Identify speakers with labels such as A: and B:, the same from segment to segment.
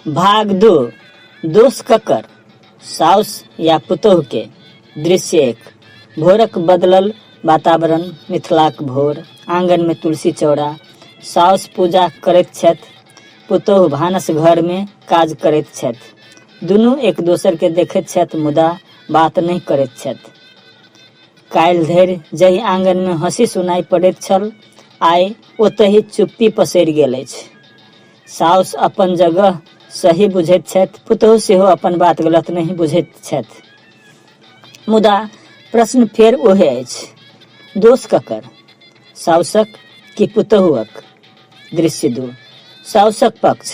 A: भाग दू दोष ककर साउस या पुतोह के दृश्य एक भोरक बदलल वातावरण मिथिलाक भोर आंगन में तुलसी चौड़ा साउस पूजा करैत छथि पुतोह भानस घर में काज करैत छथि दुनू एक दोसर के देखैत छथि मुदा बात नहि करैत छथि काल्हि धरि जाहि आंगनमे हँसी सुनाइ पड़ैत छल आइ ओतहि चुप्पी पसरि गेल अछि साउस अपन जगह सही बुझैत छथि पुतहु सेहो अपन बात गलत नहि बुझैत छथि मुदा प्रश्न फेर ओहे अछि दोष ककर साउसक कि पुतहुअक दृश्य दू साउसक पक्ष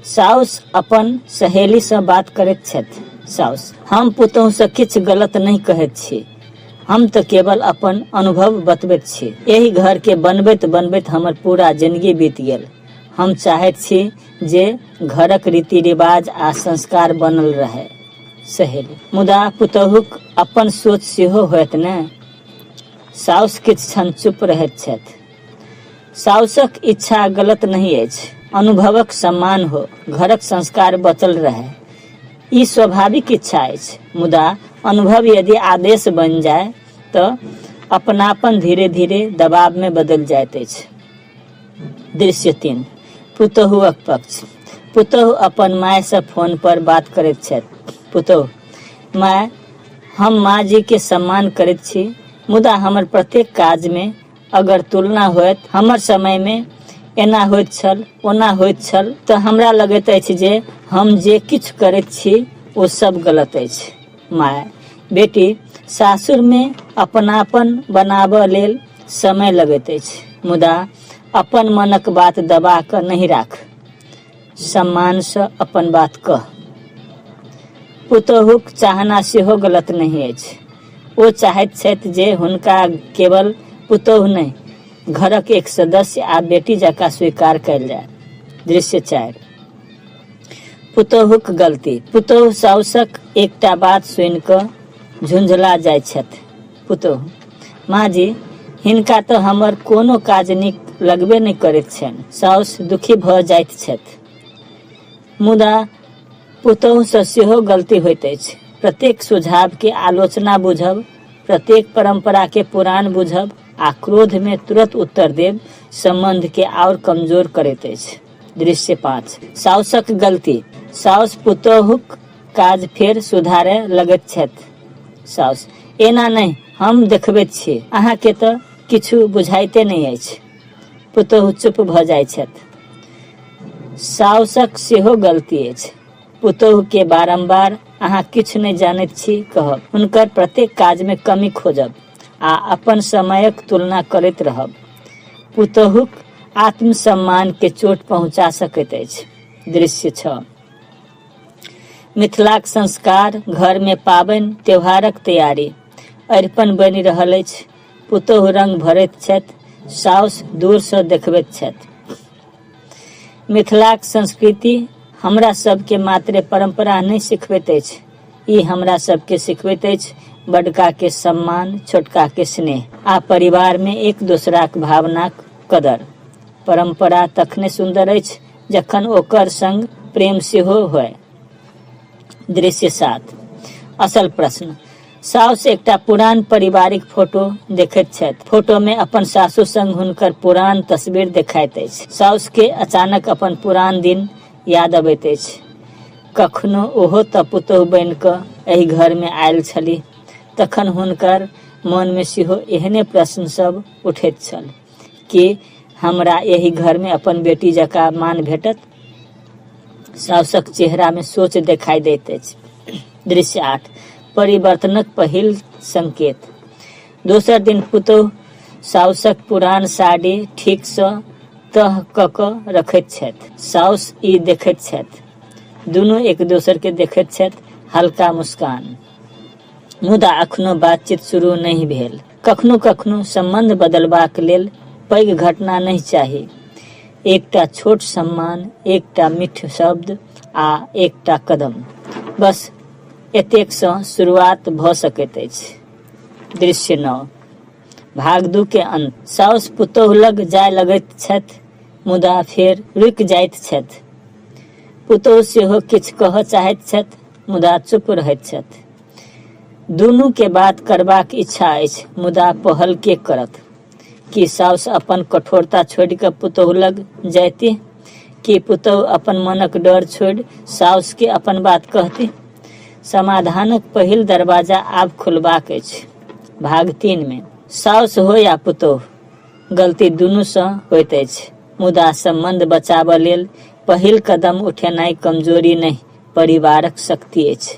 A: साउस अपन सहेलीसँ बात करैत छथि साउस हम पुतहुसँ किछु गलत नहि कहैत छी हम तऽ केवल अपन अनुभव बतबैत छी एहि घरके बनबैत बनबैत हमर पूरा जिंदगी बीत गेल हम चाहैत छी जे घरक रीति रिवाज आ संस्कार बनल रहै सहेली मुदा पुतहुक अपन सोच सेहो होयत ने साउस किछु क्षण चुप रहैत छथि साउसक इच्छा गलत नहि अछि अनुभवक सम्मान हो घरक संस्कार बचल रहए ई स्वाभाविक इच्छा अछि मुदा अनुभव यदि आदेश बनि जाय तऽ अपनापन धीरे धीरे दबावमे बदलि जाइत अछि दृश्य तीन पुतहुअक पक्ष पुतहु अपन मायसँ फोन पर बात करैत छथि पुतहु माय हम माँ जी के सम्मान करैत छी मुदा हमर प्रत्येक काजमे अगर तुलना होयत हमर समय में एना होइत छल ओना होइत छल तऽ हमरा लगैत अछि जे हम जे किछु करैत छी ओ सब गलत अछि माय बेटी सासुर में अपनापन बनाबऽ लेल समय लगैत अछि मुदा अपन मनक बात दबा कऽ नहि राख सम्मानसँ अपन बात कह पुतोहुक चाहना सेहो गलत नहि अछि ओ चाहैत छथि जे हुनका केवल पुतोहु नहि घरक एक सदस्य आ बेटी जकाँ स्वीकार कयल जाय दृश्य चारि पुतोहुक गलती पुतोहु साउसक एकटा बात सुनि कऽ झुंझला जाइत छथि पुतोहु, माँ जी, हिनका तँ हमर कोनो काज नीक लगबे नहि करैत छैन। साउस दुखी भऽ जाइत छथि। मुदा पुतोहुसँ सेहो गलती होइत अछि। प्रत्येक सुझावकेँ आलोचना बुझब, प्रत्येक परम्पराकेँ पुरान बुझब आ क्रोधमे तुरत उत्तर देब सम्बन्धकेँ आओर कमजोर करैत अछि। दृश्य पाँच। साउसक गलती। साउस पुतोहुक काज फेर सुधारए लगैत छथि साउस। एना नहि, हम देखबैत छी। अहाँकेँ तँ किछु बुझाइते नहि अछि। पुतोहु चुप भऽ जाइत छथि। साउसक सेहो गलती अछि। पुतोहुकेँ बारम्बार अहाँ किछु नहि जानैत छी कहब, हुनकर प्रत्येक काजमे कमी खोजब आ अपन समयक तुलना करैत रहब पुतोहुक आत्मसम्मानकेँ चोट पहुँचा सकैत अछि। दृश्य छह। मिथिलाक संस्कार घर मे पाबनि त्योहारक तैयारी। अरिपन बनि रहल अछि। पुतोहु रंग भरैत छथि। साउस दूर सँ देखबैत छथि। मिथिलाक संस्कृति हमरा सभ केँ मात्रे परंपरा नहि सिखबैत अछि। ई हमरा सभ केँ सिखबैत अछि बडका केँ सम्मान, छोटका केँ स्नेह। आ परिवार मे एक दोसराक भावनाक कदर। परंपरा तखने सुन्दर अछि। जखन ओकर संग प्रेम सेहो होय दृश्य सात असल प्रश्न साउस एकटा पुरान पारिवारिक फोटो देखैत छथि फोटो में अपन सासु संग हुनकर पुरान तस्वीर देखाइत अछि साउस के अचानक अपन पुरान दिन याद अबैत अछि कखनो ओहो तऽ पुतोह बनि कऽ एहि घर में आयल छली तखन हुनकर मन में सेहो एहने प्रश्न सब उठैत छल कि हमरा एहि घरमे अपन बेटी जकाँ मान भेटत साउसक चेहरामे सोच देखाइ दैत अछि दृश्य आठ परिवर्तनक पहिल संकेत दोसर दिन पुतोह साउसक पुरान साड़ी ठीकसँ तह कऽ कऽ रखैत छथि साउस ई देखैत छथि दुनू एक दोसरके देखैत छथि हल्का मुस्कान मुदा अखनो बातचीत शुरू नहि भेल कखनो कखनो सम्बन्ध बदलबाक लेल पैघ घटना नहि चाही एकटा छोट सम्मान एकटा मिठ शब्द आ एकटा कदम बस एतेकसँ शुरुआत भऽ सकैत अछि दृश्य नओ भाग दू के अंत साउस पुतोह लग जाय लगैत छथि मुदा फेर रुकि जाइत छथि पुतोह सेहो किछु कहऽ चाहैत छथि मुदा चुप रहैत छथि दुनू के बात करबाक इच्छा अछि मुदा पहल के करत कि साउस अपन कठोरता छोड़ के पुतोह लग जायती कि पुतोह अपन मनक डर छोड़ साउस के अपन बात कहती समाधानक पहिल दरवाजा आब खुलबाक अछि भाग तीन में साउस हो या पुतोह गलती दुनू से होत अछि मुदा संबंध बचाबऽ लेल पहिल कदम उठेनाई कमजोरी नहीं परिवारक शक्ति अछि